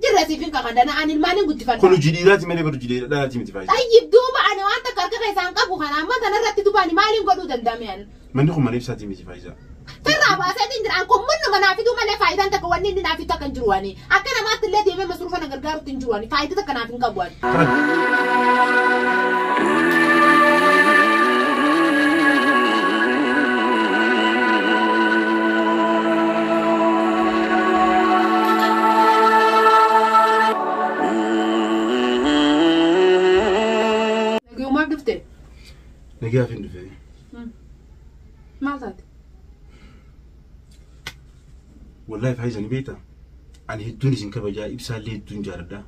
Jirra siifin kaka dana'an ilmaan hin guddifadha. Kun hojii dhiiraati malee bar hojii dhiiraati miti faayidaa. Tayyib duuba ani waan takka harka keessaan qabu kana amma sanarratti dubaani maaliin godhuu danda'ame ani. Manni kun mana ibsaatii miti faayisaa. Sirraa baaseetiin jiraan kun manni manaa fiduu malee faayidaan takka wanni inni naaf takka hin jiru waani. Akka namaatti illee deemee masruufa na gargaarutti hin jiru waani. Faayidaa takka naaf hin qabu waani. Kana. Nagayumaaf dhufte. Nagaaf hin dhufee. Maal taate? Wallahi faayiza ni beektaa? Ani hedduun isin kabajaa ibsaallee hedduun jaaladha.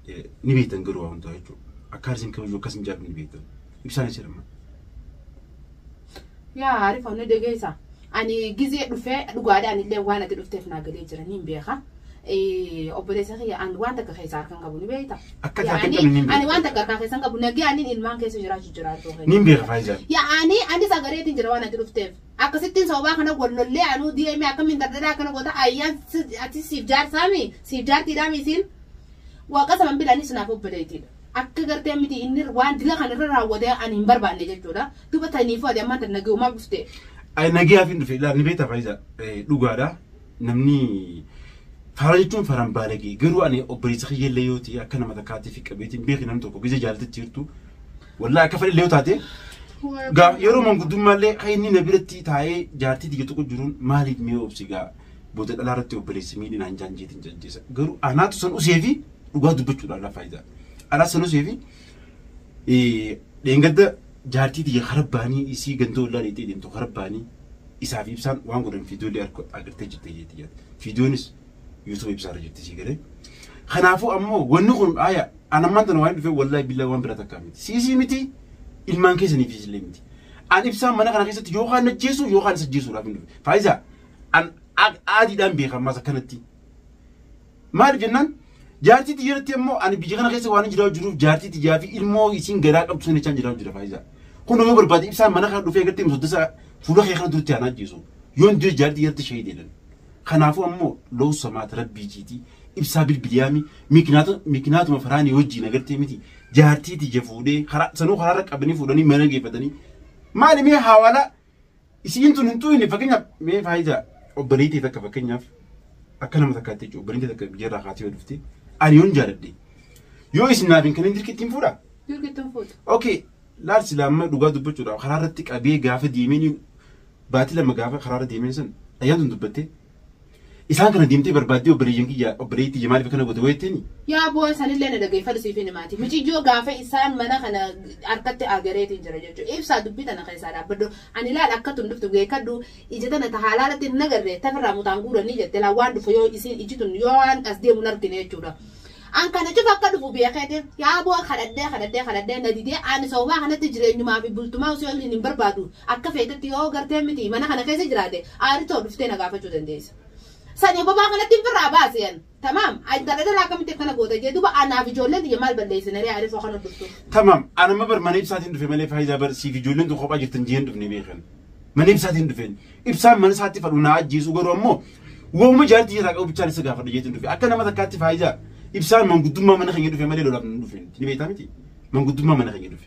Eh, Ni beektan garuu waa hundaa jechuudha. Akkaan isin kabaju akkas hin jaalladhu ni beektan. Ibsaan isa jedhama. Yaa Arif Anni Degeessa. Ani gizee dhufe dhugaadha anillee waan ati dhufteef naa galee jira niin beeka. Obboleessa kiyya an waan takka keessaa harkan qabu ni beekta. Akka ati harkan qabne niin beekta. Ani waan takka harkaa keessan qabu nagee anin ilmaan keessa jiraachu jiraachuu keenya. Niin beeka Faayizaan. Yaa'anii anis agareetiin jira waan ati dhufteef. Akkasittiin sababaa kana wallollee anuu deemee akkamiin dardadhaa akkana goota ayyaan ati siif jaarsaami siif jaartiidhaami isiin. Waaqa saman bilaanis naaf obboleetiidha. Akka gartee miti inni waan dila kan irra raawwatee ani hin barbaanne jechuudha. Duba taniifuu ati ammaan tan nagayumaaf dhuftee. Ay nagiyaaf hin dhufe laal ni beektaa faayiza dhugaadha namni faara jechuun faran baalagee garuu ani obboleessa kiyya illee yoo ta'e akka nama takkaatti fi qabeetti hin beekne namni tokko gizee jaalatitti jirtu wallaa akka fedhe illee yoo taate gaa yeroo manguddummaa illee kan inni na biratti taa'ee jaartii tiyya tokko jiruun maaliif mee obsi gaa booda dhalaa irratti obboleessa miidhinaan jaanjeetiin jajjeessa garuu anaatu san usee fi dhugaa dubbachuudhaan lafa isaa. Araa sanusee fi dheengadda jaartii tiyya harabbaanii isii ganda ollaa dheexee deemtu harabbaanii isaaf ibsaan waan godhan fiidiyoolee arko agartee jirte jee tiyya. Fiidiyoonis yuutuuba ibsaarra jirti sii galee. Kanaafuu ammoo wanni kun aaya ana ammaan tana waan dhufee wallaahi billaa waan biraa takkaa miti. Siisii miti ilmaan keessaniif illee miti. An ibsaan mana kana keessatti yookaan najjeesu yookaan isa ajjeesuudhaaf hin dhufe. Faayisaa an aadiidhaan beekan maas akkanatti. Maaliif jennaan jaartii tiyyaratti immoo ani biyya kana keessa waan jiraatu jiruuf jaartii tiyyaa fi ilmoo isiin garaa qabdu sana jechaan jiraatu jira faayisaa. Kun nama barbaade ibsaan mana kana dhufee agartee musaddasa fuula kee kana duratti aanaa ajjeesu. Yoon du'e jaartii tiyyaatti shahii deedan. Kanaafuu ammoo loo samaata rabbii jiitii ibsaa bilbiliyaami mikinaatuma faraanii wajjiin agartee miti jaartii tiyya fuudhee karaa sanuu karaarra qabanii fuudhanii mana geeffatanii maali mee haawaalaa Isiin tun hin tuyne fakkeenyaaf mee faayidaa obboleettii takka fakkeenyaaf akka nama takkaatti jechuudha obboleettii takka biyya irraa kaatee yoo dhufte ani yoon jaaladhe yoo isin naaf hin kennin dirqi ittiin fuudha. Dirqi ittiin fuudha. Okay laal silaa amma dhugaa dubbachuudhaaf karaa irratti qabee gaafa deemee baatii lama gaafa karaa irra deemee san ayyaan tun dubbattee Isaan kana deemtee barbaaddee obboleeyyan kiyya obboleeyyi tiyya maaliif akkana goote wayittiin? Yaa boo'a sanillee na dhageeffadhu siif hin himaati. Miciyyoo gaafa isaan mana kana harkatti aagareetiin jira jechuudha. Ibsaa dubbii tana keessaa dhaabbadhu. Ani laal akka tun dhuftu beekadhu. Ija tana ta haalaalatti hin agarre tafirraa mutaan guuranii jette laal waan dhufu yoo isiin iji tun yoo waan as deemu hin argine jechuudha. An kana cufa akka dhufu beekeeti. Yaa boo'a kadhadhee kadhadhee kadhadhee na didee ani sababaa kanatti jireenyumaa fi bultumaa usii waliin hin barbaadu. Akka feetetti yoo gartee miti mana kana keessa jiraate aari too dhuftee na gaafachuu dandeessa. Sani bobaa kanatti hin firraa baasi an. Tamaam intala dhalaa akkamitti akkana goota jee duba anaaf ijoolleen tiyya maal balleessine ree aarifoo kana dhuftu. Tamaam an amma bar mana ibsaatiin dhufe malee faayidaa bar siif ijoolleen tun kophaa jirtan jeen dhufne beekan. Mana ibsaatiin dhufeen ibsaan mana isaatti fadhu naa ajjeesu garuu ammoo wauma jaartii irraa qabu bichaan isa gaafadha jeetiin dhufe akka nama takkaatti faayidaa ibsaan manguddummaa mana keenya dhufe malee lolaaf nu dhufe ni beektaa miti manguddummaa mana keenya dhufe.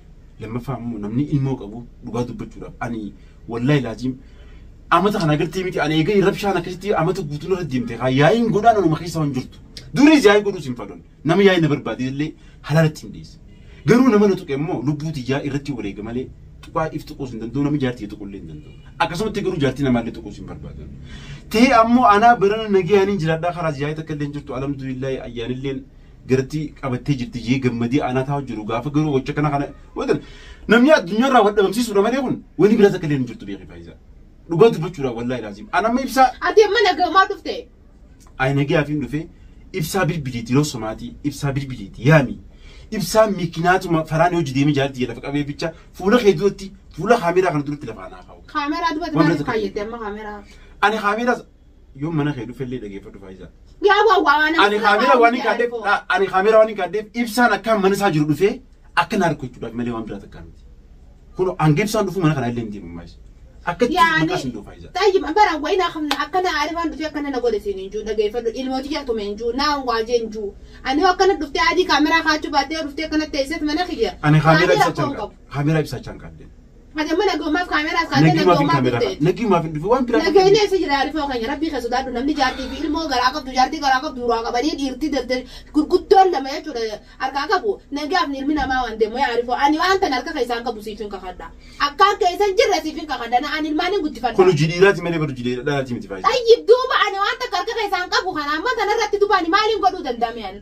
Lammaffaa ammoo namni ilmoo qabu dhugaa dubbachuudhaaf ani wallaahi laaziim amata kana agartee miti ani eegalee rabshaan akkasitti amata guutuu narra deemte kaa yaa'iin godhaan anuma keessa waan jirtu. Duris yaa'ii godhuus hin fadhoon nama yaa'ii na barbaade illee halaalatti hin dhiyeesse. Garuu nama na tuqe immoo lubbuu tiyyaa irratti wareega malee tuqaa if tuquus hin danda'u nama jaartii tuquu illee hin danda'u. Akkasumatti garuu jaartii namaa illee tuquus hin barbaadu. Ta'ee ammoo anaa barana nagayaan hin jiraadhaa karaas yaa'ii takka illee hin jirtu alhamdulillah ayyaanilleen garatti qabattee jirti jee gammadee aanaa taa'u jiru gaafa garuu gocha kana kana wanta namni addunyaa irraa wal dhabamsiisuudha malee kun wani biraa takka illee hin jirtu beekii faayisaa dhugaa dubbachuudha wallaahi laaziim an amma ibsaa Ati amma nagamaa dhufte. ayinagee hafiin dhufee ibsaa bilbiliiti yeroo somaatii ibsaa bilbiliiti yaami ibsaa mikinaatuma faraan yoo jideemee jaarti jedha faqabee bicha fuula kee duratti fuula kaameeraa kana duratti lafaa naa kaa'u Kaameraa dubbatti Waan maaliif biraa takka kaayyette amma kaameraa? ani kaameeraas Yoon mana kee dhufellee dhageeffadhu Faayizaa. Yaa waa waa nama Ani kaameeraa waan hin kaaddeef ani kaameeraa waan hin kaaddeef ibsaan akkaan mana isaa jiru dhufee akka na arku jechuudhaaf malee waan biraa takkaa miti. Kun hanga ibsaan dhufu mana kana illee hin deemu maayis. Akka itti Yaani maqaa sin dhufu Faayizaa. tayyib bara wayi na kamna akkana arifaan dhufee akkana na godhe siin hin juu dhageeffadhu ilmooti yaa tume hin juu naa waa jee hin juu ani yoo akkana dhuftee adii kaameraa kaachuu baattee yoo dhuftee akkana teesseet mana kiyya Ani kaameeraa ibsa rakkoo hin chalqabu. qabu. Kaameeraa ibsaachaan qaadden. Adamma nagumaaf kaameraas kaatee Nagii maaf hin nagumaaf kaameeraa dhufte. qaadde? Nagii maaf hin dhufe? Waan biraa qaadde. Nageenyi eessa jira Arifoo keenya rabbii kee sodaadhu namni jaartii fi ilmoo garaa qabdu jaartii garaa qabdu duraa qabanii dhiirtii danda gurguddoon lama jechuudha harkaa qabu nagaaf ni ilmi namaa waan deemu yaa Arifoo ani waan tan harka keessaan qabu siif hin kakadha akka harka keessan jirre siif hin kakadha na ani ilmaan hin Kun guddifadha. hojii dhiiraati malee bar hojii dhiiraati miti faayidaa. Xayyib duuba ani waan takka harka keessaan qabu kana amma tanarratti dubaani maaliin godhuu danda'ame ani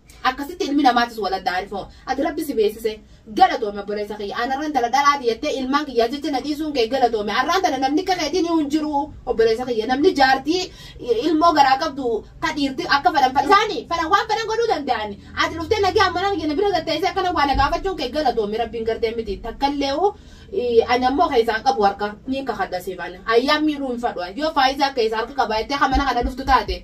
Akkasitti ilmi namaatis wal adda arifo. Ati Rabbi si beeksise. Galatoomi obboleessa kiyya. An arran tana dhalaati jettee ilmaan kiyyaa jecha na dhiisuun kee galatoomi. Arraan tana namni akka keetii niyuu hin jiru obboleessa kiyya. Namni jaartii ilmoo garaa qabdu ka dhiirti akka fadhan fa isaani fadhan waan fadhan godhuu danda'ani. Ati dhuftee nagaan mana kiyya na bira gad teessee akkana waa na gaafachuun kee galatoomi Rabbiin gartee miti takkalleehu ani ammoo keessaa hin qabu harka niin kakadha siif an ayyaan miidhuu hin fadhu an yoo faayizaa keessaa harka qabaattee ka mana kana dhuftu taate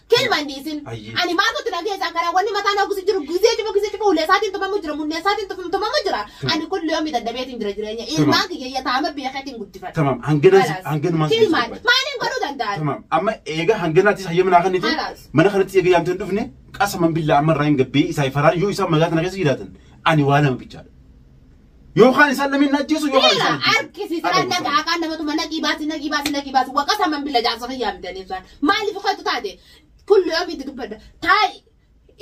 Kilma hin dhiisin. Ayyee. Ani maal gotti na keessaa karaa wanni mataa na gusi jiru gizee cufa gizee cufa ulee isaatiin tumamu jira munnee isaatiin tufum tumamu jira. Ani kulli yoomii dadhabeetiin jira jireenya. Ilmaan kiyya yataama beekeetiin guddifadha. Tamam hanganaan Halas. hanganumaan si Kilmaan barbaada. maaliin godhuu danda'an? Tamam amma eega hanganaatis hayyama naa kennite Halas. mana kanatti eega yaamtee hin dhufne qasaman billaa amma irraa hin gabbee isaa faraan yoo isaan magaalaa kana keessa jiraatan ani waa lama bichaadha. Yookaan isaan namni hin ajjeesu yookaan Bila isaan ajjeesu. arkisi Haadha siran naga guddaa. akaan namatu mana qibaasi na qibaasi na qibaasi waqa saman bila jaarsa fayyaa midanii isaan maaliif kootu taate kullu yoo miti dubbadha taa'i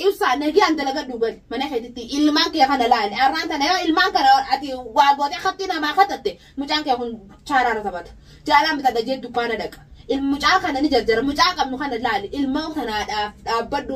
ibsaa nagaan dalagadhu gali mana keetitti ilmaan kee kana laali arraan tana yoo ilmaan kana ati waa gootee katti namaa katatte mucaan kee kun chaaraara taphata jaalaan bitadha jee dukkaana dhaqa il mucaa kana ni jarjara mucaa qabnu kana laali ilmaan kanaadhaaf dhaabbadhu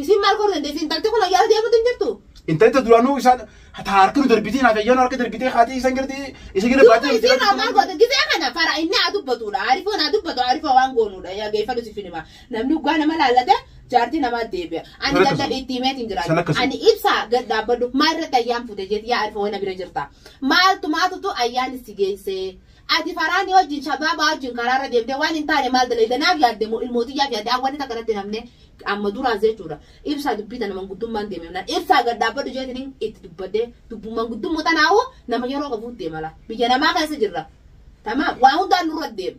Isiin maal godhu dandeessi? Intalti kun ayyaana deemuutu hin jirtu. Intalli ta duraanuu isaan ta harka nu darbitee naaf ayyaana harka darbitee kaatii isaan garti isa gara Duuba baatee isiin haa maal godhu? Gisee kana fara inni haa dubbatuudha. Aarifoon haa dubbatu. Aarifoo waan goonuudha. Yaa geeffadhu si finima. Namni dhugaa nama laallate jaartii namaa deebi'a. Ani Sana akkasuma. dadhabe itti himeeti hin jiraatu. Sana akkasuma. Ani ibsaa gad dhaabbadhu. Maal irratti ayyaan fuute jeeti yaa aarifoo na bira jirta. Maaltu maatutu ayyaan si geessee? Ati Faraani wajjin, Shabaabaa wajjin karaa irra deemtee waan hin taane maal dalayda? Naaf yaadde moo ilmoo tiyyaaf yaadde? An wanni takka natti hin hafne, amma duraas jechuudha, Ibsaa dubbii tana manguddummaan deeme jennaan, Ibsaa gad dhaabbadhu jeetiniin itti dubbadhe. Dubbuma manguddummoo tanaahuu nama yeroo qabuutti deema laa. Biyya namaa keessa jirra. Tamaam. Waa hundaan nurra deema.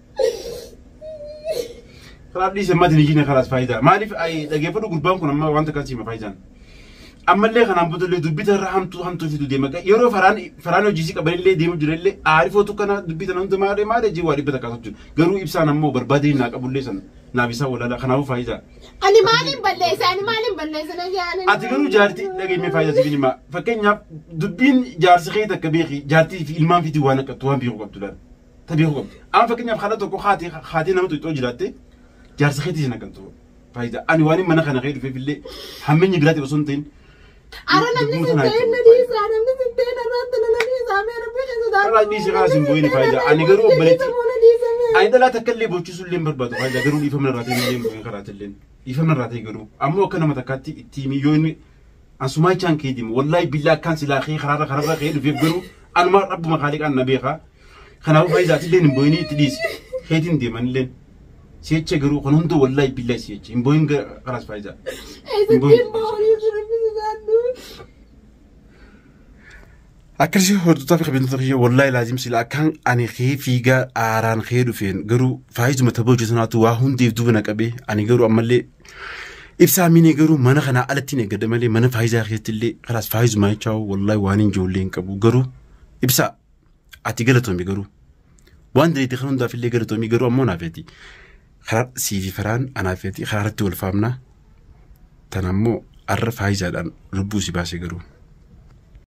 Kanaaf dhiise mati lijiina kalaas faayidaa. Maaliif dhageeffadhu gurbaan kun amma wanta kan siima faayidaan. Ammallee kanaan boodallee dubbita irra hamtuu hamtuu fidu deema. Yeroo faraan faraan hojiisii qabanillee deemu jirallee aarifootu kana dubbita namni maaree maaree jee waa dhibba takkaatu jiru. Garuu ibsaan ammoo barbaadee naa qabullee sana naaf isaa walaalaa kanaafuu faayidaa. Ani maaliin balleessa? Ani maaliin balleessa? Na yaala. Ati garuu jaartii dhageeffamee faayidaa sibiin himaa. Fakkeenyaaf dubbiin jaarsi kee takka beeki jaartii fi ilmaan fitii waan akkattu waan beeku qabdu laata. ta beekuu qabdi. Amma fakkeenyaaf haadha tokko haati haati nama tuuxxoo jiraatte jaarsa keetii sin akkantu faayidaa ani waan mana kana kee dhufeef illee hammeenyi biraatiif osoo hin ta'in Ara namni sin ta'in na dhiisa, namni sin ta'in irratti na dhiisa, mee rabbi kan sodaatu. Karaa dhiisi, karaa sin bu'in faayidaa. Ani garuu obboleetti- Moona dhiisa mee. ani dhalaa takka illee bochiisuu illee hin barbaadu faayidaa garuu dhiifama irraa ta'e illee hin bu'in karaa illee dhiifama irraa ta'e garuu ammoo akka nama takkaatti itti himi yoo inni Asumaa ichaan kee deema. Wallaahi billaa akkaan silaa kee karaarra karaarra kee dhufeef garuu anuma rabbuma kaaliqaan na beekaa. Kanaafuu faayidaa atillee hin booyinii itti dhiisi. Keetiin deeman illee. Si'echa garuu kan hunduu wallaahi billaa si'echa. Hin booyin karaas faayidaa. Eessa deemaa horii jiru bisu naannoo. Akkasii hordoftaa fi kabajamtoota kiyya wallaahi laazim sila akkaan ani kee fiigaa aaraan kee dhufeen garuu faayizuma tapha hojii sanaatu waa hundeef duuba na qabee ani garuu ammallee ibsaa miinee garuu mana kanaa alatti hin eeggada malee mana faayizaa keessatti illee karaas faayizuma jechaa wallaahi waan hin ijoollee hin qabu garuu ibsaa ati galatoomi garuu waan dandeetti kan hundaaf illee galatoomi garuu ammoo naaf jedhi karaa siifi faraan anaaf jedhi karaa irratti wal faamnaa tan ammoo arra faayizaadhaan lubbuu si baase garuu.